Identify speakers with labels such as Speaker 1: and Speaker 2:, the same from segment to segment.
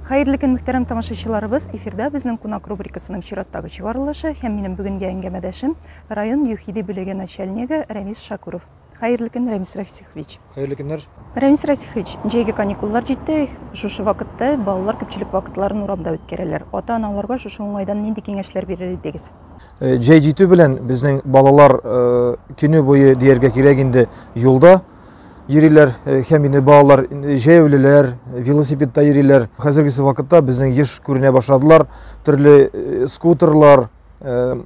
Speaker 1: Хәерле көн, мөхтәрәм тамашачыларыбыз! Эфирда безнең кунак рубрикасының чираттагы чыгарылышы һәм минем бүгенге әңгәмәдәшем район ЮХИДИ бүлеге начальнигы Рәмис Шакуров. Хәерле көн, Рәмис Расихович! Хәерле көннәр!
Speaker 2: Рәмис Расихович,
Speaker 1: җәйге каникуллар җитте. Шушы вакытта балалар күпчелек вакытларын урамда үткәрәләр. Ата-аналарга шушы уңайдан нинди киңәшләр бирер идегез? Э, җәй җитү
Speaker 2: белән безнең балалар э, көне буе дияргә кирәк инде юлда йөриләр э, һәм инде балалар җәяүлеләр велосипедта йөриләр хәзергесе вакытта безнең еш күренә башладылар төрле скутерлар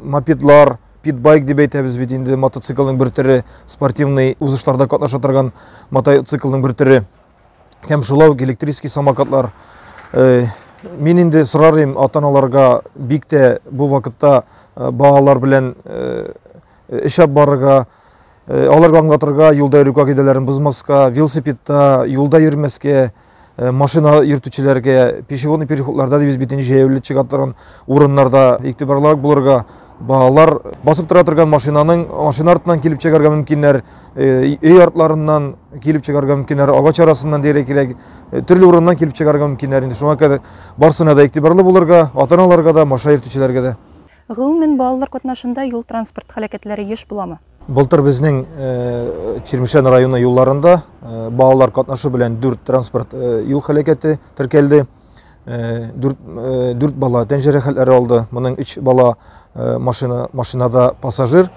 Speaker 2: мопедлар питбайк дип әйтәбез бит инде мотоциклның бер төре спортивный узышларда катнаша торган мотоциклның бер төре һәм шулай ук электрический самокатлар. Э, мин инде сорар идем ата-аналарга бик тә бу вакытта э, балалар белән э, эшәп барырга, аларга аңлатырга, юлда йөрү кагыйдәләрен бозмаска, велосипедта, юлда йөрмәскә, машина йөртүчеләргә, пешеходный переходларда дибез бит инде җәяүле чыга торган урыннарда игътибарлырак булырга, Балалар басып тора торган машинаның машина артынан килеп чыгарга мөмкиннәр, э, өй артларыннан килеп чыгарга мөмкиннәр, агач арасыннан диярлек кирәк, э, төрле урыннан килеп чыгарга мөмкиннәр. Инде шуңа кадәр барсына да игътибарлы булырга, ата-аналарга да, машина йөртүчеләргә дә. Гомумән, балалар
Speaker 1: катнашында юл-транспорт һәлакәтләре еш буламы? Былтыр безнең
Speaker 2: э, Чирмешән районы юлларында балалар катнашу белән 4 транспорт юл һәлакәте теркәлде. дүрт дүрт бала тән җәрәхәтләре алды. Моның өч бала машина машинада пассажир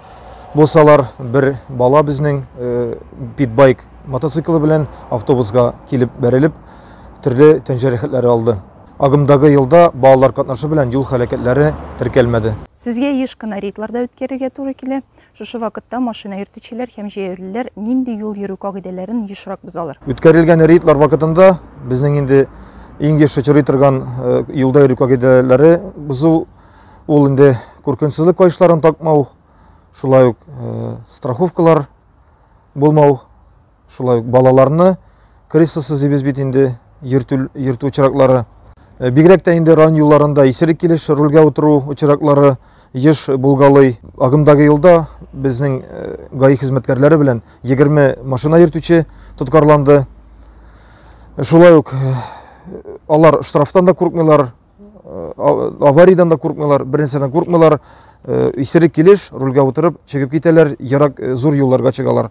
Speaker 2: булсалар, бер бала безнең питбайк мотоциклы белән автобусга килеп бәрелеп, төрле тән җәрәхәтләре алды. Агымдагы елда балалар катнашы белән юл һәлакәтләре теркәлмәде. Сезгә еш кына
Speaker 1: рейдларда үткәрергә туры килә. Шушы вакытта машина йөртүчеләр һәм җәяүлеләр нинди юл йөрү кагыйдәләрен ешрак бозалар? Үткәрелгән рейдлар
Speaker 2: вакытында безнең инде иң еш очрый торган юлда йөрү кагыйдәләре бозу ул инде күркенсезлек каешларын такмау, шулай ук страховкалар булмау, Шулай ук балаларны крыса сызлыйбыз бит инде, йөртү, йөртү очраклары. Э, бигрәк тә инде район юлларында исерек килеш рульгә утыру очраклары еш булгалый. Агымдагы елда безнең э, ГАИ хезмәткәрләре белән 20 машина йөртүче тоткарланды. Шулай ук э, алар штрафтан да курыкмыйлар, аварийдан да куркмыйлар бернәрсәдән куркмыйлар исерек килеш рульгә утырып чыгып китәләр ерак зур юлларга чыгалар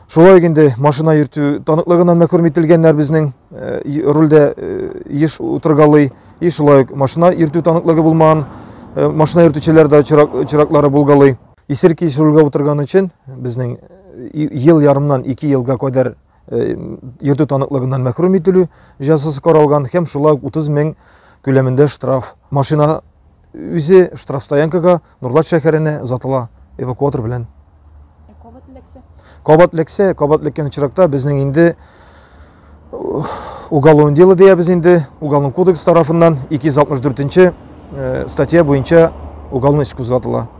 Speaker 2: шулай ук инде машина йөртү таныклыгыннан мәхрүм ителгәннәр безнең рульдә еш утыргалый и шулай ук машина йөртү таныклыгы булмаган машина йөртүчеләр дә чираклары булгалый исерек килеш рульгә утырган өчен безнең ел ярымнан ике елга кадәр йөртү таныклыгыннан мәхрүм ителү җәзасы каралган һәм шулай 30 мең күләмендә штраф. Машина үзе штрафстоянкага Нурлат шәһәренә озатыла эвакуатор белән. Ә кабат эләксә? Кабат эләксә, кабат эләккән очракта безнең инде уголовное дело диябез инде, уголовный кодекс тарафыннан 264 статья буенча уголовный эш кузгатыла.